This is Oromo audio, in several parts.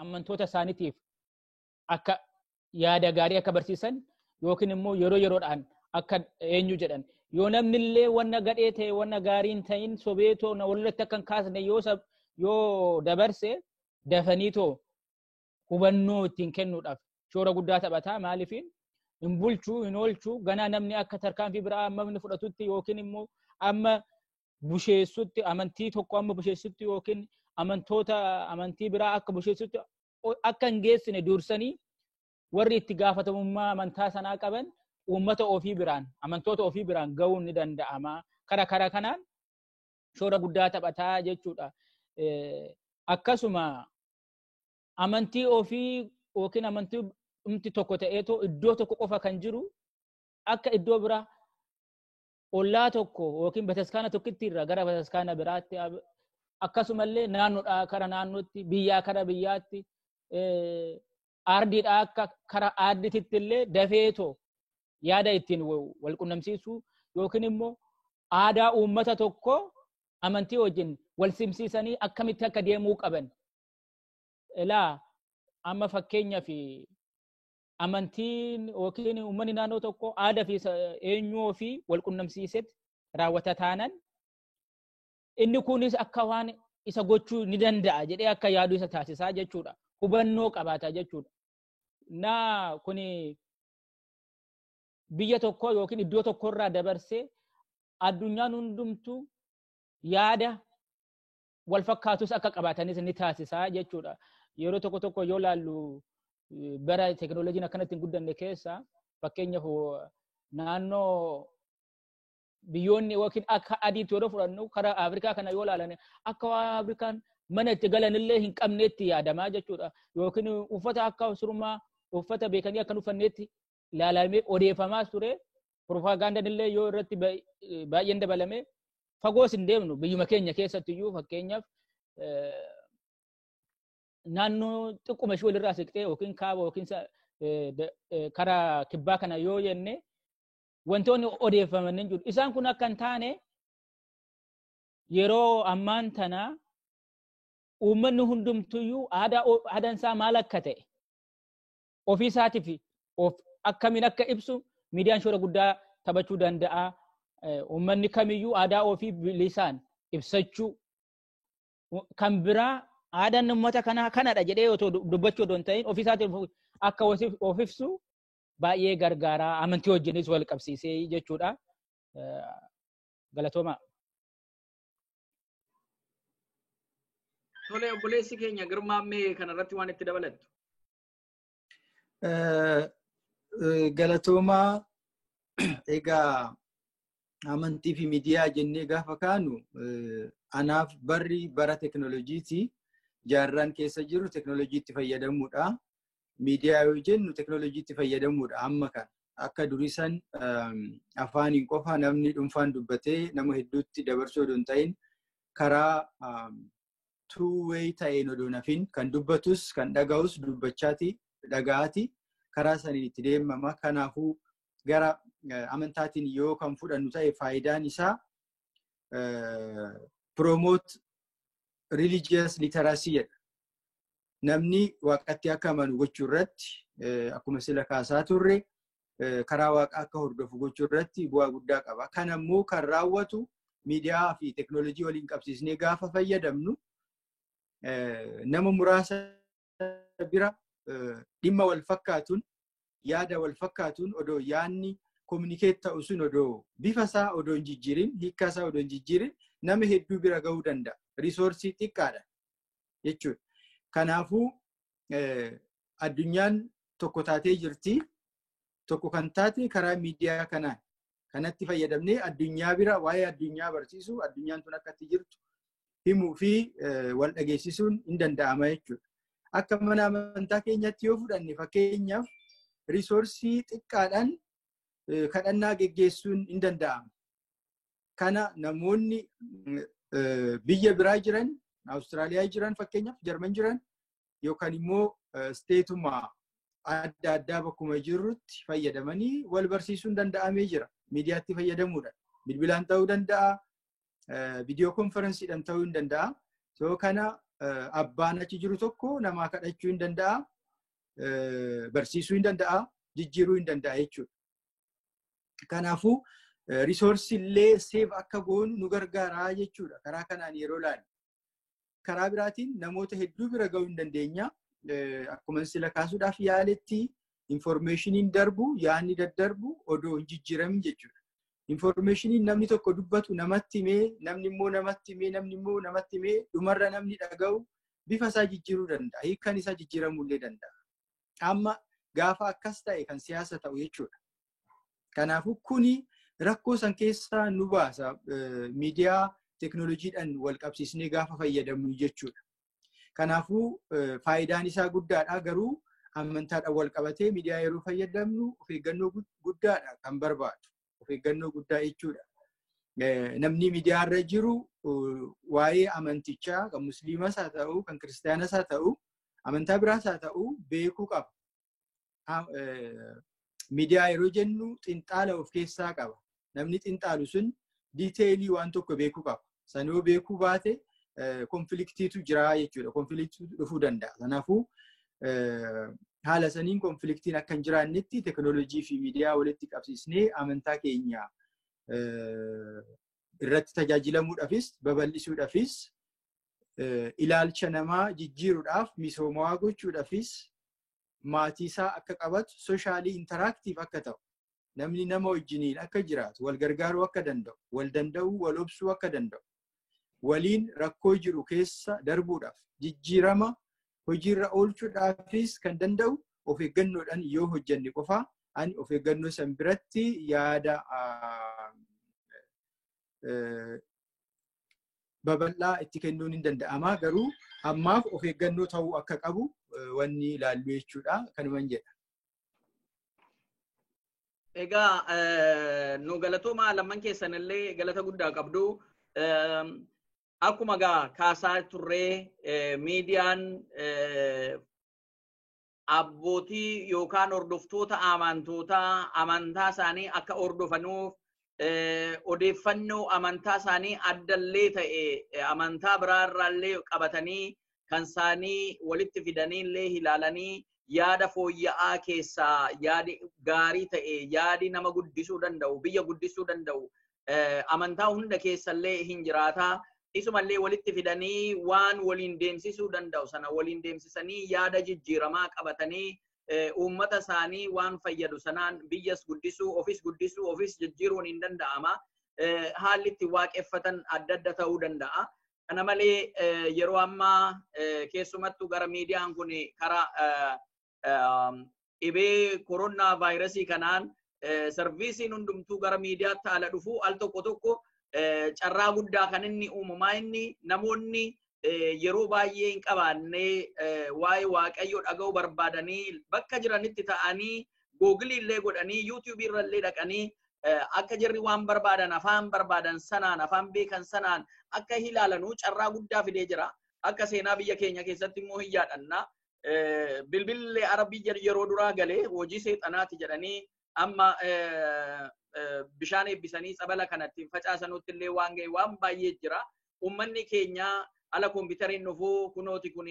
ammantoota isaaniitiif akka yaada gaarii akka barsiisan yookiin immoo yeroo yeroodhaan akka eenyu jedhan yoo namni illee wanna gadhee ta'e wanna gaarii hin ta'in sobee too na walirratti akka hin kaasne yoo sab- yoo dabarse dafanii too hubannoo ittiin kennuudhaaf shoora guddaa taphataa maaliif hin bulchuu hin oolchuu ganaa namni akka tarkaanfii biraa amma inni fudhatutti yookiin immoo amma busheessutti amantii tokko amma busheessutti yookiin amantoota amantii biraa akka busheessutti akka hin geessine dursanii warri itti gaafatamummaa amantaa sanaa qaban uummata ofii biraan amantoota ofii biraan ga'uun ni danda'ama. Kara kara kanaan shoora guddaa taphataa jechuudha. Akkasuma amantii ofii yookiin amantii dhumti tokko ta'eetoo iddoo tokko qofa kan jiru akka iddoo biraa ollaa tokko yookiin bataskaana tokkitti irraa gara bataskaana biraatti akkasumallee naannoodhaa kara naannootti biyyaa kara biyyaatti aardiidhaa akka kara aardititti illee dafeetoo yaada ittiin wal qunnamsiisuu yookiin immoo aadaa uummata tokko amantii wajjin wal simsiisanii akkamitti akka deemuu qaban. Ilaa amma fakkeenyaaf amantiin yookiin uummanni naannoo tokko aadaa fi eenyuu ofii wal qunnamsiisetti raawwata taanan inni kunis akka waan isa gochuu ni danda'a jedhee akka yaadu isa taasisaa jechuudha. Hubannoo qabaata jechuudha. Na kuni biyya tokko yookiin iddoo tokkorraa dabarsee addunyaan hundumtuu yaada wal fakkaatus akka qabaatanis ni taasisa jechuudha. Yeroo tokko tokko yoo laallu bara teekinooloojiin akkanatti hin guddanne keessa fakkeenyaaf naannoo biyyoonni yookiin akka adiitti yeroo fudhannu karaa Afrikaa kana yoo laalan akka waan Afrikaan mana itti galanillee hin qabneetti yaadamaa jechuudha. Yookiin uffata akka surmaa uffata beekanii akka hin uffanneetti ilaalamee odeeffamaas ture piropaagaandaan illee yoo irratti baay'een dabalame fagoos hin deemnu biyyuma keenya keessatti iyyuu fakkeenyaaf naannoo xiqquma ishee walirraa siqtee yookiin kaaba yookiin karaa kibbaa kana yoo jenne wantoonni odeeffaman hin jiru. Isaan kun akka hin taane yeroo ammaan tana uummanni hundumtuyyuu aadaan isaa maal akka ta'e ofii isaatiif of akkamiin akka ibsu miidiyaan shoora guddaa taphachuu danda'a. Uummanni kamiyyuu aadaa ofii bilisaan ibsachuu kan biraa aadaan uummata kanaa kanadha jedhee otoo dubbachuu otoo hin ta'in ofii isaatiif akka of ibsu baay'ee gargaara. Amantii wajjinis wal qabsiisee jechuudha. Galatoomaa. Tole obboleessi keenya Girmaammee kanarratti waan itti dabalattu. Galatoomaa egaa amantii fi miidiyaa jennee gaafa kaanu anaaf barri bara teknooloojiiti. Jaarraan keessa jiru teknooloojiitti fayyadamuudha. Miidiyaa yoo jennu teknooloojiitti fayyadamuudha amma kan akka durisan afaaniin qofa namni dhuunfaan dubbatee nama hedduutti dabarsuu odoo hin ta'in karaa two way ta'een odoo hin hafin kan dubbatus kan dhaga'us dubbachaati dhaga'aati karaa saniin itti deemama kanaafuu gara eh, amantaatiin yoo kan fudhannu ta'e faayidaan isaa eh, promote religious literacy jedha. Namni waaqatti akka amanu gochuu irratti eh, akkuma sila kaasaa turre karaa waaqaa akka hordofu gochuu irratti bu'aa guddaa qaba. Kan ammoo kan raawwatu miidiyaa fi teeknooloojii waliin qabsiisnee gaafa fayyadamnu nama muraasa bira dhimma wal fakkaatuun yaada wal fakkaatuun odoo yaanni kominikeet ta'u sun odoo bifa isaa odoo hin jijjiirin hiikkaa isaa odoo hin jijjiirin nama hedduu bira gahuu danda'a. Risoorsii xiqqaadha jechuudha. Kanaafuu addunyaan tokko taatee jirti. Tokko kan taate karaa miidiyaa kanaan kanatti fayyadamnee addunyaa bira waa'ee addunyaa barsiisuu addunyaan tun akkatti jirtu himuu fi wal dhageessisuun hin danda'ama jechuudha. Akka mana amantaa keenyatti yoo fudhanne fakkeenyaaf risoorsii xiqqaadhaan kadhannaa geggeessuun hin danda'ama. kana namoonni biyya biraa jiran Awustiraaliyaa jiran fakkeenyaaf Jarman jiran yookaan immoo isteetuma adda addaa bakkuma jirrutti fayyadamanii wal barsiisuun danda'amee jira. Miidiyaatti fayyadamuudhaan bilbilaan ta'uu danda'a, viidiyoo konferensiidhaan ta'uu hin danda'a. Soo kana abbaan achi jiru tokko namaa kadhachuu hin danda'a, barsiisuu hin danda'a, jijjiiruu hin danda'a jechuudha. Kanaafuu risoorsii illee seef akka goonu nu gargaaraa jechuudha. Karaa kanaan yeroo ilaalu. Karaa biraatiin namoota hedduu bira ga'uu hin dandeenya. Akkuma sila kaasuudhaaf yaaletti infoormeeshiniin darbu yaadni daddarbu odoo hin jijjiiramin jechuudha. Infoormeeshiniin namni tokko dubbatu namatti himee namni immoo namatti himee namni immoo namatti himee dhumarra namni dhaga'u bifa isaa jijjiiruu danda'a. Hiikan isaa jijjiiramuu illee danda'a. Amma gaafa akkas ta'e kan siyaasa ta'u jechuudha. Kanaafuu kuni rakkoo san keessaa nu baasa miidiyaa teknooloojiidhaan wal qabsiisnee gaafa fayyadamnu jechuudha. Kanaafuu faayidaan isaa guddaadha garuu amantaadhaan wal qabatee miidiyaa yeroo fayyadamnu of eeggannoo guddaadha kan barbaadu. of eeggannoo guddaa jechuudha. Namni miidiyaarra jiru waa'ee amantichaa kan musliimas haa ta'u kan kiristaanas haa ta'u amantaa biraas haa ta'u beekuu qaba. Miidiyaa yeroo jennu xinxaala of keessaa qaba. Namni xinxaalu sun diiteelii waan tokko beekuu qaba. San yoo beekuu baate konfiliktiitu jira jechuudha. Konfiliktiitu dhufuu danda'a. Kanaafuu haala saniin konfiliktiin akka hin jiraannetti teknoolojii fi miidiyaa walitti qabsiisnee amantaa keenya irratti tajaajilamuudhaafis babal'isuudhaafis ilaalcha namaa jijjiiruudhaaf misoomawaa gochuudhaafis maatiisaa akka qabatu soshaalii intaraaktiif akka ta'u namni nama wajjiniin akka jiraatu, wal gargaaruu akka danda'u, wal danda'uu, wal obsuu akka danda'u, waliin rakkoo jiru keessa darbuudhaaf, jijjiirama hojiirra oolchuudhaafis kan danda'u of eeggannoodhaan yoo hojjenne qofaa ani of eeggannoo san biratti yaada babal'aa itti kennuun hin danda'ama. Garuu ammaaf of eeggannoo ta'uu akka qabu wanni ilaallu jechuudha. Kanuman jedha. Egaa nu galatoomaa lamman keessan illee galata guddaa qabdu. Akkuma gaa kaasaa turree miidiyaan abbootii yookaan hordoftoota amantootaa amantaa isaanii akka hordofanuuf odeeffannoo amantaa isaanii addallee ta'e amantaa biraa irraallee qabatanii kan isaanii walitti fidanii illee ilaalanii yaada fooyya'aa keessaa yaadi gaarii ta'e yaadi nama guddisuu danda'u biyya guddisuu danda'u amantaa hunda keessallee hin jiraata. Isumallee walitti fidanii waan waliin deemsisuu danda'u sana waliin deemsisanii yaada jijjiiramaa qabatanii uummata isaanii waan fayyadu sanaan biyyas guddisuu ofis guddisuu ofis jijjiiruun hin danda'ama. Haalli itti waaqeffatan adda adda ta'uu danda'a. Kana malee yeroo ammaa keessumattuu gara miidiyaan kun karaa dhibee koronaa vaayirasii kanaan sarviisiin hundumtuu gara miidiyaatti ala dhufu al tokko tokko carraa guddaa kan inni uumamaa inni namoonni yeroo baay'ee hin qabaanne waa'ee waaqayyoo dhaga'uu barbaadanii bakka jiranitti ta'anii googilii illee godhanii yuutuubii irra illee dhaqanii akka jarri waan barbaadan afaan barbaadan sanaan afaan beekan sanaan akka ilaalanuu carraa guddaa fidee jira. Akka seenaa biyya keenya keessatti immoo hin yaadhanna. Bilbillee arabii yeroo duraa galee hojii seexanaati jedhanii amma bishaan eebbisanii tsabala kanatti hin facaasanutti illee waan ga'e waan baay'ee jira. Uummanni keenya ala kompiitariin dhufuu kunooti kun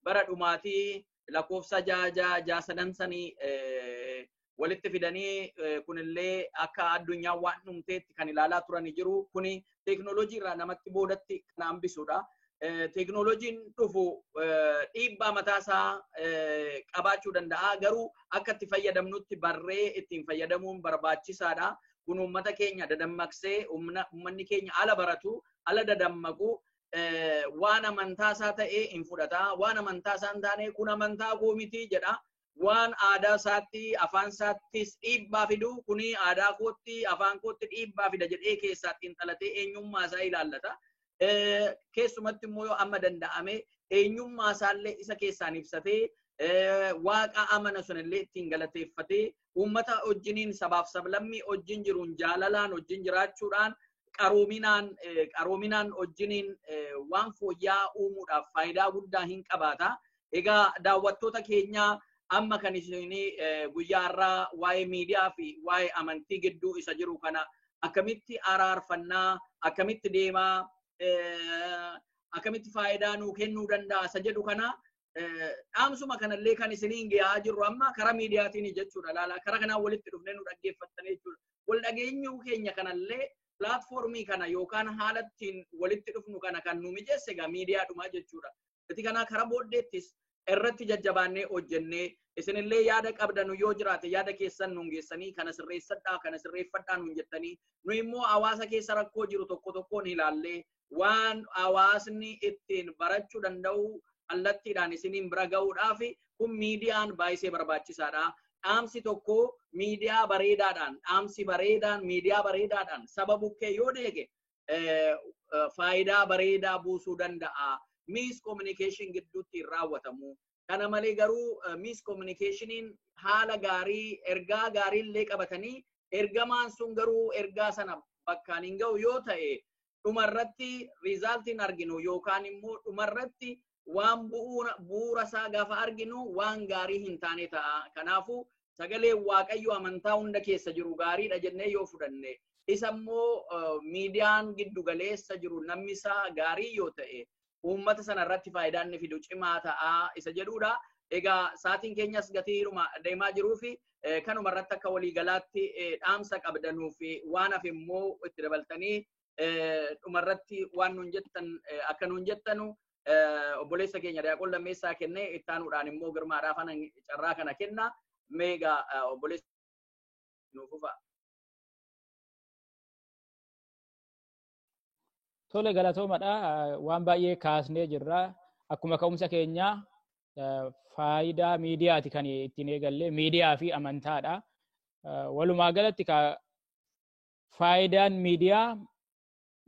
bara dhumaatii lakkoofsa ja'a ja'a ja'a sadan sanii walitti fidanii kunillee akka addunyaa waan dhumteetti kan ilaalaa turani jiru. Kuni teeknooloojii irraa namatti boodatti kan hambisudha. Teeknooloojiin dhufu dhiibbaa mataasaa qabaachuu danda'a. Garuu akka itti fayyadamnutti barree ittiin fayyadamuun barbaachisaadha. Kun uummata keenya dadammaqsee uummanni keenya ala baratu, ala dadammaqu waan amantaa isaa ta'ee hin fudhata. Waan amantaa isaa hin taane kun amantaa koo miti jedha. Waan aadaa isaatti afaan isaattis dhiibbaa fidu kuni aadaa kootti afaan kootti dhiibbaa fida jedhee keessaa xiinxalatee eenyummaa isaa ilaallata. Keessumatti immoo yoo amma danda'ame eenyummaa isaallee isa keessaan ibsatee waaqa amana sunillee ittiin galateeffatee uummata wajjiniin sabaaf sablammii wajjin jiruun jaalalaan wajjin jiraachuudhaan qaroominaan qaroominaan wajjiniin waan fooyya'aa uumuudhaaf faayidaa guddaa hin qabaata. Egaa daawwattoota keenyaa amma kan isin guyyaa har'aa waa'ee miidiyaa fi waa'ee amantii gidduu isa jiru kana akkamitti araarfannaa akkamitti deemaa akkamitti faayidaa nuu kennuu danda'a isa jedhu kana dhaamsuma kanallee kan isiniin gahaa jirru amma karaa miidiyaatiin jechuudha laala karaa kanaan walitti dhufnee nu dhaggeeffattanii jechuudha wal dhageenyuu keenya kanallee pilaatfoormii kana yookaan haala ittiin walitti dhufnu kana kan nu mijeesse egaa miidiyaadhuma jechuudha itti kanaa karaa booddeettis irratti jajjabaannee hojjennee isinillee yaada qabdanu yoo jiraate yaada keessan nuun geessanii kana sirreessadhaa kana sirreeffadhaa nuun jettanii nu immoo hawaasa keessa rakkoo jiru tokko tokkoon ilaallee waan hawaasni ittiin barachuu danda'u kallattiidhaan isiniin bira ga'uudhaaf kun miidiyaan baay'isee barbaachisaadha. Dhaamsi tokko miidiyaa bareedaadhaan, dhaamsi bareedaan miidiyaa bareedaadhaan saba bukkee yoo deege faayidaa bareedaa buusuu danda'a. Miis kominikeeshin gidduutti hin raawwatamu. Kana malee garuu miis kominikeeshiniin haala gaarii ergaa gaarii illee qabatanii ergamaan sun garuu ergaa sana bakkaan hin ga'u yoo ta'e dhumarratti riizaaltiin arginu yookaan immoo dhumarratti waan bu'uura isaa gaafa arginu waan gaarii hin taane ta'a. Kanaafuu sagalee waaqayyo amantaa hunda keessa jiru gaariidha jennee yoo fudhanne isa immoo miidiyaan giddu galeessa jiru namni isaa gaarii yoo ta'e uummata sana irratti faayidaa inni fidu cimaa ta'a isa jedhuudha. Egaa sa'aatiin keenyas gatiiruma deemaa jiruu fi kanuma irratti akka waliigalaatti dhaamsa qabdanuu fi waan hafe immoo itti dabaltanii dhuma irratti waan nuun jettan akka nuun jettanu obboleessa keenya daaqon lammeessaa kenne itti aanuudhaan immoo girmaadhaaf ana carraa kana kenna meega obboleessa nuuf fufaa. Tole galatoomadha. Waan baay'ee kaasnee jirra. Akkuma ka'umsa keenyaa faayidaa miidiyaati kan ittiin eegalle miidiyaa fi amantaadha. Walumaa galatti faayidaan miidiyaa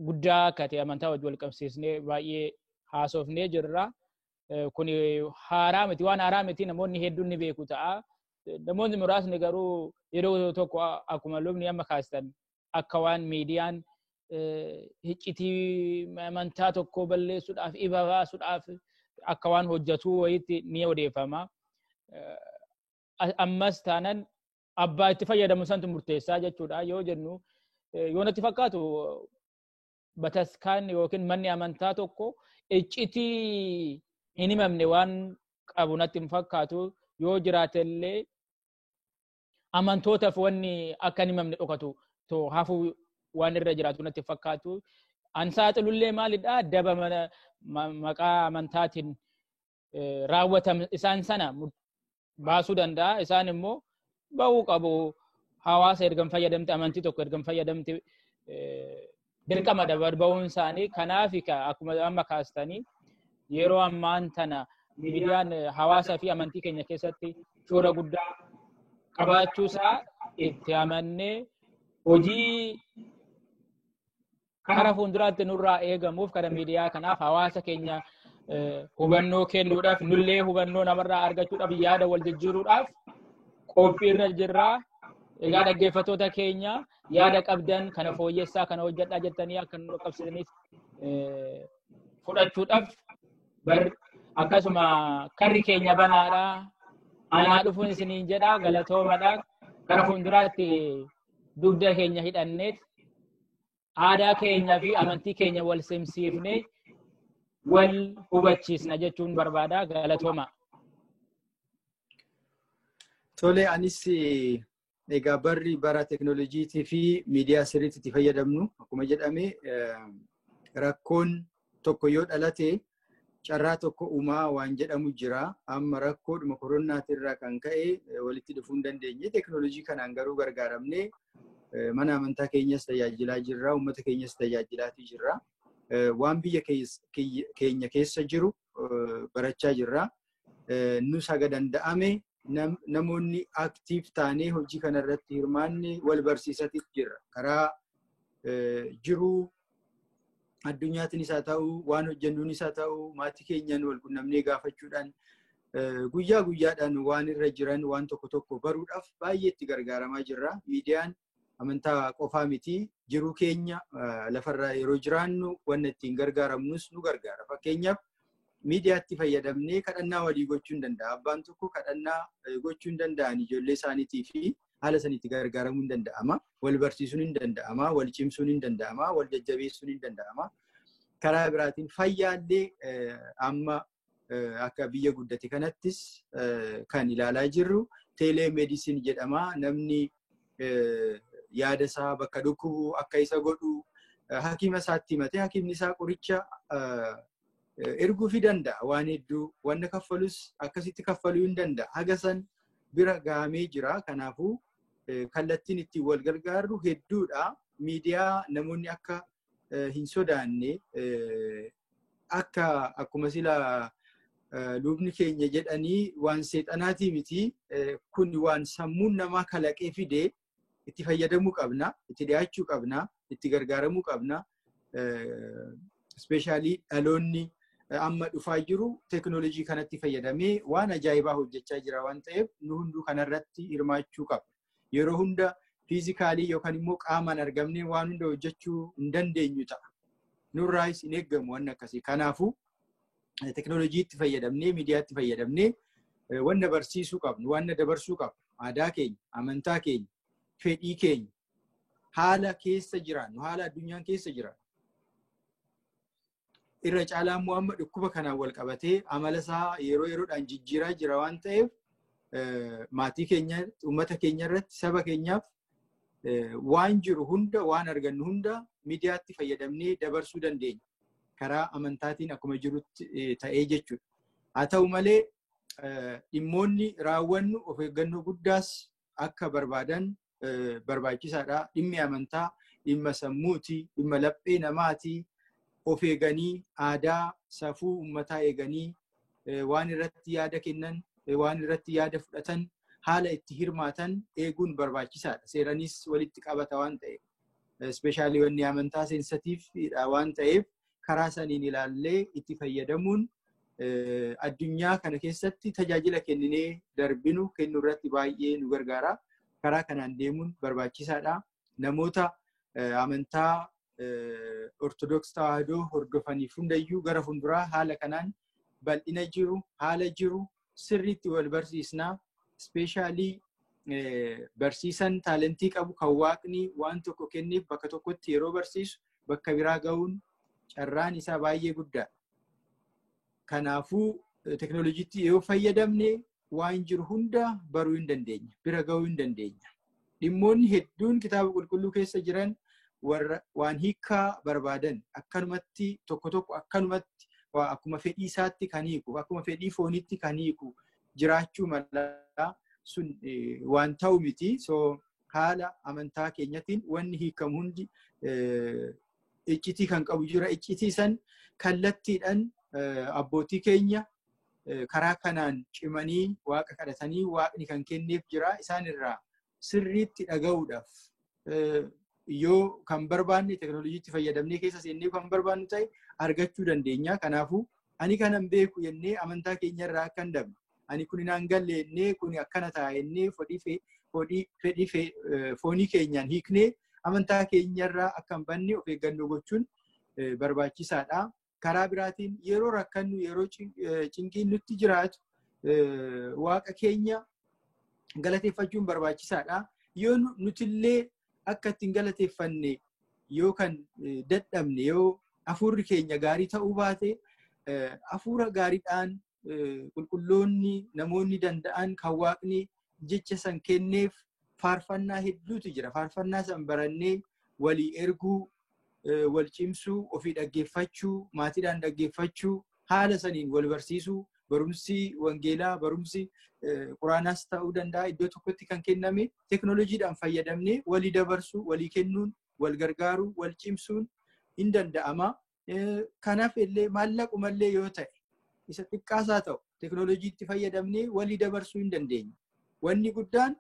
guddaa akka ta'e amantaa wajjin wal qabsiisnee baay'ee haasofnee jirra. Kun haaraa miti waan haaraa miti namoonni hedduun ni beeku ta'a. Namoonni muraasni garuu yeroo tokko akkuma lubni amma kaastan akka waan miidiyaan hiccitii amantaa tokko balleessuudhaaf ifa baasuudhaaf akka waan hojjetuu wayiitti ni odeeffama. Ammas taanan abbaa itti fayyadamu santu murteessaa jechuudha yoo jennu yoo natti fakkaatu bataskaan yookiin manni amantaa tokko iccitii hin himamne waan qabu natti hin fakkaatu yoo jiraatellee amantootaaf wanni akka hin himamne dhokatu too hafuu waan irra jiraatu natti fakkaatu. An saaxilullee maalidha daba mana ma- maqaa amantaatiin eh, raawwatam isaan sana mur- baasuu danda'a. Isaan immoo ba'uu qabu. Hawaasa ergan fayyadamte amantii tokko ergan fayyadamte eh, dirqama dabar ba'uun isaanii kanaaf akkuma amma kaastanii yeroo ammaan tana miidiyaan hawaasaa fi amantii keenya keessatti shoora guddaa qabaachuu isaa itti amannee hojii kara fuulduraatti nurraa eegamuuf kara miidiyaa kanaaf hawaasa keenya hubannoo kennuudhaaf nullee hubannoo namarraa argachuudhaaf yaada wal jijjiiruudhaaf qophiirra jirra. Egaa dhaggeeffattoota keenya yaada qabdan kana fooyyessaa kana hojjedhaa jettanii akka nu qaqqabsiisaniif eh, fudhachuudhaaf bar akkasuma karri keenya banaadha anaa dhufuun isiniin jedha galatoomadha gara fuulduraatti dugda keenya hidhanneet aadaa keenya fi amantii keenya wal simsiifne wal hubachiisna jechuun barbaada galatooma. Tole anis eh, Egaa barri bara teknooloojiitii fi miidiyaa sirriitti itti fayyadamnu akkuma jedhame rakkoon tokko yoo dhalate carraa tokko uumaa waan jedhamu jira. Amma rakkoodhuma koronaatii irraa kan ka'e walitti dhufuu hin dandeenye. Teknooloojii kanaan garuu gargaaramnee mana amantaa keenyas tajaajilaa jirra, uummata keenyas tajaajilaatii jirra. Waan biyya keenya keessa jiru barachaa jirra. nus haga danda'ame namoonni aktiif taanee hojii kanarratti hirmaanne wal barsiisatiif jirra. Karaa jiruu addunyaatiinis haa ta'u, waan hojjennuunis haa ta'u, maatii keenyaan wal qunnamnee gaafachuudhaan guyyaa guyyaadhaan waan irra jiran waan tokko tokko baruudhaaf baay'ee itti gargaaramaa jirra. Miidiyaan amantaa qofaa miti jiruu keenya lafarra yeroo jiraannu wanna ittiin gargaaramnus nu gargaara. Fakkeenyaaf miidiyaatti fayyadamnee kadhannaa walii gochuu hin danda'a. Abbaan tokko kadhannaa gochuu hin danda'an ijoollee isaaniitii fi haala sanitti gargaaramuu hin danda'ama. Wal barsiisuun hin danda'ama. Wal cimsuun hin danda'ama. Wal jajjabeessuun hin danda'ama. Karaa biraatiin fayyaallee amma akka biyya guddate kanattis kan ilaalaa jirru teeleemeedisin jedhama. Namni yaada isaa bakka dhukkubu akka isa godhu hakiima isaatti himatee hakiimni isaa qoricha erguufii danda'a. Waan hedduu wanna kaffalus akkasitti kaffaluu hin danda'a. Haga san bira gahamee jira. Kanaafuu kallattiin ittiin wal gargaarru hedduudha. Miidiyaa namoonni akka hin sodaanne akka akkuma sila lubni keenya jedhanii waan seexanaatii miti kun waan sammuun namaa kalaqee fide itti fayyadamuu qabna itti dhiyaachuu qabna itti gargaaramuu qabna ispeeshaalii dhaloonni amma dhufaa jiru teekinooloojii kanatti fayyadamee waan ajaa'ibaa hojjechaa jira waan ta'eef nu hunduu kanarratti hirmaachuu qabna. Yeroo hunda fiizikaalii yookaan immoo qaamaan argamnee waan hunda hojjechuu hin dandeenyu ta'a. Nurraayis hin eeggamu waan akkasii. Kanaafuu teknooloojiitti fayyadamnee, miidiyaatti fayyadamnee wanna barsiisuu qabnu, wanna dabarsuu qabnu, aadaa keenya, amantaa keenya, fedhii keenya, haala keessa jiraannu, haala addunyaan keessa jiraannu. irra caalaa immoo amma dhukkuba kanaan wal qabatee amala isaa yeroo yeroodhaan jijjiiraa jira waan ta'eef maatii keenya uummata keenya irratti saba keenyaaf waan jiru hunda waan argannu hunda miidiyaatti fayyadamnee dabarsuu dandeenya. Karaa amantaatiin akkuma jirutti ta'ee jechuudha. Haa ta'u malee dhimmoonni raawwannu of eeggannoo guddaas akka barbaadan barbaachisaadha. Dhimmi amantaa dhimma sammuuti, dhimma laphee namaati. Of eeganii aadaa safuu uummataa eeganii waan irratti yaada kennan, waan irratti yaada fudhatan, haala itti hirmaatan eeguun barbaachisaadha. Seeranis walitti qabata waan ta'eef. Ispeeshaalii wanni amantaa seensatiifidha waan ta'eef karaa saniin ilaallee itti fayyadamuun addunyaa kana keessatti tajaajila kenninee darbinu kennu irratti baay'ee nu gargaara. Karaa kanaan deemuun barbaachisaadha. Namoota amantaa Ortodoks Tawaahidoo hordofaniif hundayyuu gara fuulduraa haala kanaan bal'ina jiru, haala jiru, sirriitti wal barsiisnaa ispeeshaalii barsiisan taalentii qabu kan waaqni waan tokko kenneef bakka tokkotti yeroo barsiisu bakka biraa ga'uun carraan isaa baay'ee guddaa. Kanaafuu teknooloojiitti yoo fayyadamne waan jiru hunda baruu hin dandeenya. Bira ga'uu hin dandeenya. Dhimmoonni hedduun kitaaba qulqulluu keessa jiran warra waan hiikaa barbaadan akkanumatti tokko tokko akkanumatti waa akkuma fedhii isaatti kan hiiku akkuma fedhii fooniitti kan hiiku jiraachuu mala sun eh, waan ta'u miti. So haala amantaa keenyatiin wanni hiikamu hundi eh, iccitii kan qabu jira. Iccitii san kallattiidhaan eh, abbootii keenya karaa kanaan cimanii waaqa kadhatanii waaqni kan kenneef jira isaan irraa sirriitti dhaga'uudhaaf yoo kan barbaanne teknooloojiitti fayyadamnee keessa seennee kan barbaannu ta'e argachuu dandeenya. Kanaafuu ani kanan beeku jennee amantaa keenya irraa akka hin dabne ani kun naan galle jennee kun akkana ta'a jennee fedhii foonii keenyaan hiiknee amantaa keenya irraa akka hin banne of eeggannoo gochuun barbaachisaadha. karaa biraatiin yeroo rakkannu yeroo cinqiin nutti jiraatu waaqa keenya galateeffachuun barbaachisaadha. Yoo nutillee akka ittiin galateeffanne yoo kan dadhabne yoo hafuurri keenya gaarii ta'uu baate hafuura gaariidhaan qulqulloonni namoonni danda'an kan waaqni jecha san kenneef faarfannaa hedduutu jira. Faarfannaa san barannee walii erguu wal cimsuu, ofii dhaggeeffachuu, maatiidhaan dhaggeeffachuu, haala saniin wal barsiisuu, barumsi wangeelaa, barumsi quraanaas ta'uu danda'a iddoo tokkotti kan kenname teknooloojiidhaan fayyadamnee walii dabarsuu, walii kennuun, wal gargaaruu, wal cimsuun hin danda'ama. Kanaaf illee maallaquma illee yoo ta'e isa xiqqaasaa ta'u teknooloojiitti fayyadamnee walii dabarsuu hin dandeenye. Wanni guddaan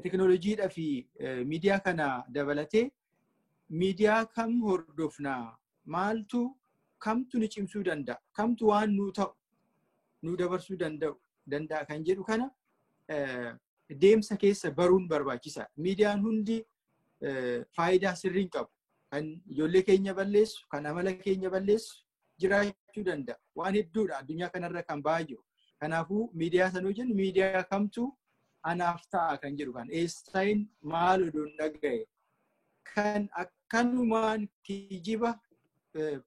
teknooloojiidhaa fi miidiyaa kana dabalatee miidiyaa kam hordofnaa maaltu kamtu ni cimsuu danda'a kamtu waan nuu ta'u nuu dabarsuu danda'u danda'a kan jedhu kana deemsa keessa baruun barbaachisaa miidiyaan hundi faayidaa sirriin qabu kan ijoollee keenya balleessu kan amala keenya balleessu jiraachuu danda'a. Waan hedduudha addunyaa kanarra kan ba'aa jiru. Kanaafuu miidiyaa sanuu jennu miidiyaa kamtu anaaf ta'a kan jedhu kan eessayin maal oduun dhaga'e kan akkanumaan kijiba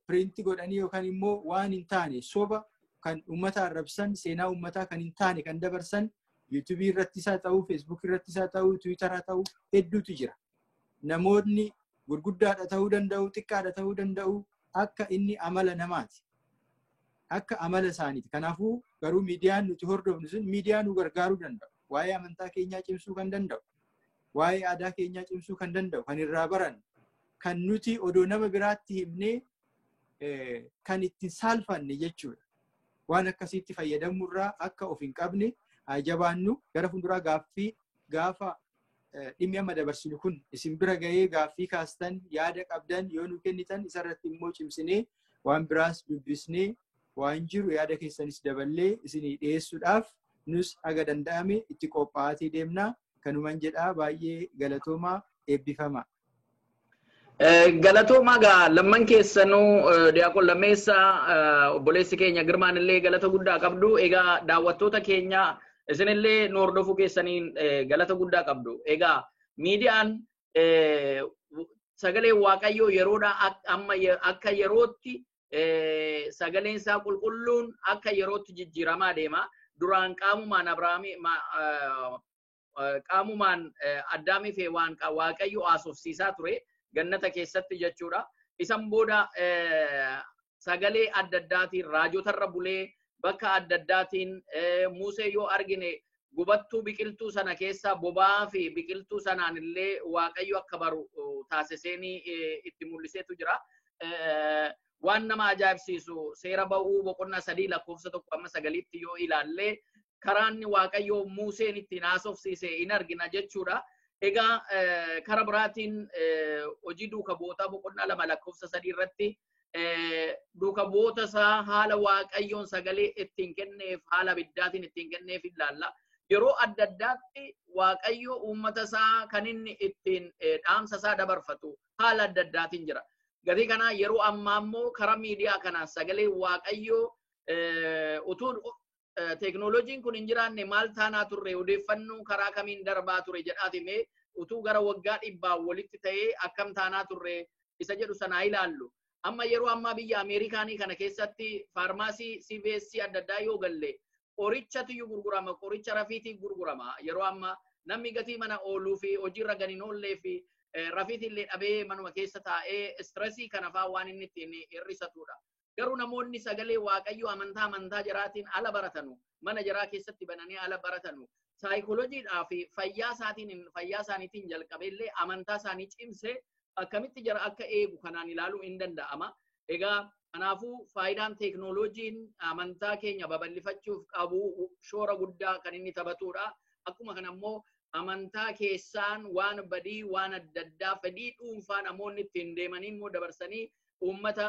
piriinti godhanii yookaan immoo waan hin taane soba kan uummata arrabsan seenaa uummataa kan hin taane kan dabarsan yuutuubii irratti isaa ta'uu feesbuukii irratti isaa ta'uu tiwiitaraa ta'uu hedduutu jira. namoonni gurguddaadha ta'uu danda'u xiqqaadha ta'uu danda'u akka inni amala namaati. Akka amala isaaniiti. Kanaafuu garuu miidiyaan nuti hordofnu sun miidiyaa nu gargaaruu danda'u. Waa'ee amantaa keenyaa cimsuu kan danda'u. Waa'ee aadaa keenyaa cimsuu kan danda'u. Kan irraa barannu. Kan nuti odoo nama biraatti himnee kan ittiin saalfanne jechuudha. Waan akkasiitti fayyadamurraa akka of hin qabne haa jabaannu gara fuulduraa gaaffii gaafa dhimmi amma dabarsinu kun isin bira gahee gaaffii kaastan yaada qabdan yoo nu kennitan isarratti immoo cimsinee waan biraas dubbisnee waan jiru yaada keessanis daballee isinii dhiyeessuudhaaf nus haga danda'ame itti qophaa'atii deemna kanuman jedhaa baay'ee galatoomaa eebbifama. Galatoomaa gaa lamman keessanuu Diyaaqon Lammeessaa obboleessi keenya Girmaan illee galata guddaa qabdu. Egaa daawwattoota keenya isinillee nu hordofuu keessaniin galata guddaa qabdu. Egaa miidiyaan sagalee Waaqayyoo yeroodhaa amma akka yerootti sagaleen isaa qulqulluun akka yerootti jijjiiramaa deema. Duraan qaamumaan Abrahaamii qaamumaan Addaamii fi Hewaan Waaqayyo haasofsiisaa ture gannata keessatti jechuudha. Isan booda sagalee adda addaatiin raajotarra bulee bakka adda addaatiin Musee yoo argine gubattuu biqiltuu sana keessaa boba'aa fi biqiltuu sanaan illee Waaqayyo akka baru taasiseenii itti mul'iseetu jira. waan nama ajaa'ibsiisu seera ba'uu boqonnaa sadii lakkoofsa tokko amma sagaliitti yoo ilaalle karaanni waaqayyoo Muuseen ittiin haasofsiise hin argina jechuudha. Egaa kara biraatiin hojii duuka bu'ootaa boqonnaa lama lakkoofsa sadii irratti duuka bu'oota isaa haala waaqayyoon sagalee ittiin kenneef haala abiddaatiin ittiin kenneef ilaalla. Yeroo adda addaatti waaqayyo uummata isaa kan inni ittiin dhaamsa isaa dabarfatu haala adda addaatiin jira. Gatii kanaa yeroo ammaa immoo karaa miidiyaa kanaan sagalee waaqayyoo utuun teeknooloojiin kun hin jiraanne maal taanaa turre odeeffannoo karaa kamiin darbaa ture jedhaati mee utuu gara waggaa dhibbaa walitti ta'ee akkam taanaa turre isa jedhu sanaa ilaallu. Amma yeroo ammaa biyya Ameerikaanii kana keessatti faarmaasii CVS adda addaa yoo galle qorichatiyyuu gurgurama qoricha rafiitii gurgurama yeroo amma namni gatii mana ooluu fi hojiirra gadi hin oollee fi rafiitillee dhabee manuma keessa taa'ee istirasii kanafaa waan inni ittiin hir'isatudha. Garuu namoonni sagalee waaqayyoo amantaa amantaa jaraatiin ala baratanu mana jaraa keessatti bananii ala baratanu saayikolojiidhaa fi fayyaa isaatiin fayyaa isaaniitiin jalqabeellee amantaa isaanii cimsee akkamitti jara akka eegu kanaan ilaaluu hin danda'ama. Egaa kanaafuu faayidaan teeknooloojiin amantaa keenya babal'ifachuuf qabu shoora guddaa kan inni taphatudha. Akkuma kana immoo amantaa keessaan waan badii waan adda addaa fedhii dhuunfaa namoonni ittiin deemanii immoo dabarsanii uummata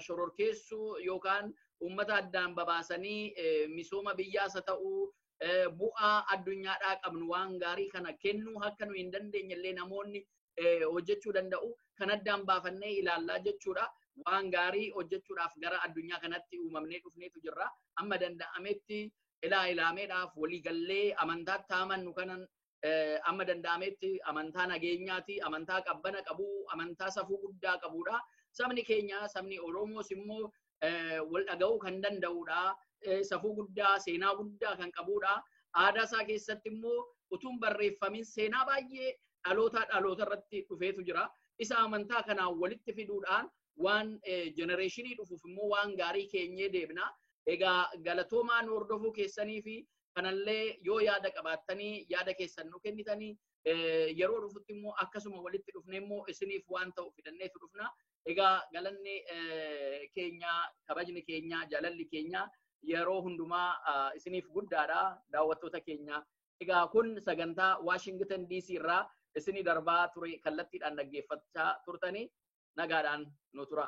shororkeessuu yookaan uummata addaan babaasanii misooma biyyaas haa ta'uu bu'aa addunyaadhaa qabnu waan gaarii kana kennuu akka nu hin dandeenye illee namoonni hojjechuu danda'u kan addaan baafannee ilaallaa jechuudha. Waan gaarii hojjechuudhaaf gara addunyaa kanatti uumamnee dhufneetu jirra. Amma danda'ametti ilaa ilaameedhaaf waliigallee amantaatti amannu kanan amma danda'ametti amantaa nageenyaati, amantaa qabbana qabu, amantaa safuu guddaa qabudha. Sabni keenya sabni Oromoos immoo wal dhaga'uu kan danda'udha. Safuu guddaa, seenaa guddaa kan qabudha. Aadaa isaa keessatti immoo utuun barreeffamin seenaa baay'ee dhalootaa dhaloota irratti dhufeetu jira. Isa amantaa kanaan walitti fiduudhaan waan jenereeshinii dhufuuf immoo waan gaarii keenyee deebina. Egaa galatoomaa nu hordofuu keessanii fi kanallee yoo yaada qabaattanii yaada keessan nu kennitanii yeroo dhufutti immoo akkasuma walitti dhufnee immoo isiniif waan ta'u fidanneetu dhufna. Egaa galanni keenya kabajni keenya jaalalli keenya yeroo hundumaa isiniif guddaadha daawwattoota keenya. Egaa kun sagantaa Waashingtan DC irraa isinii darbaa ture kallattiidhaan dhaggeeffachaa turtanii nagaadhaan nu tura.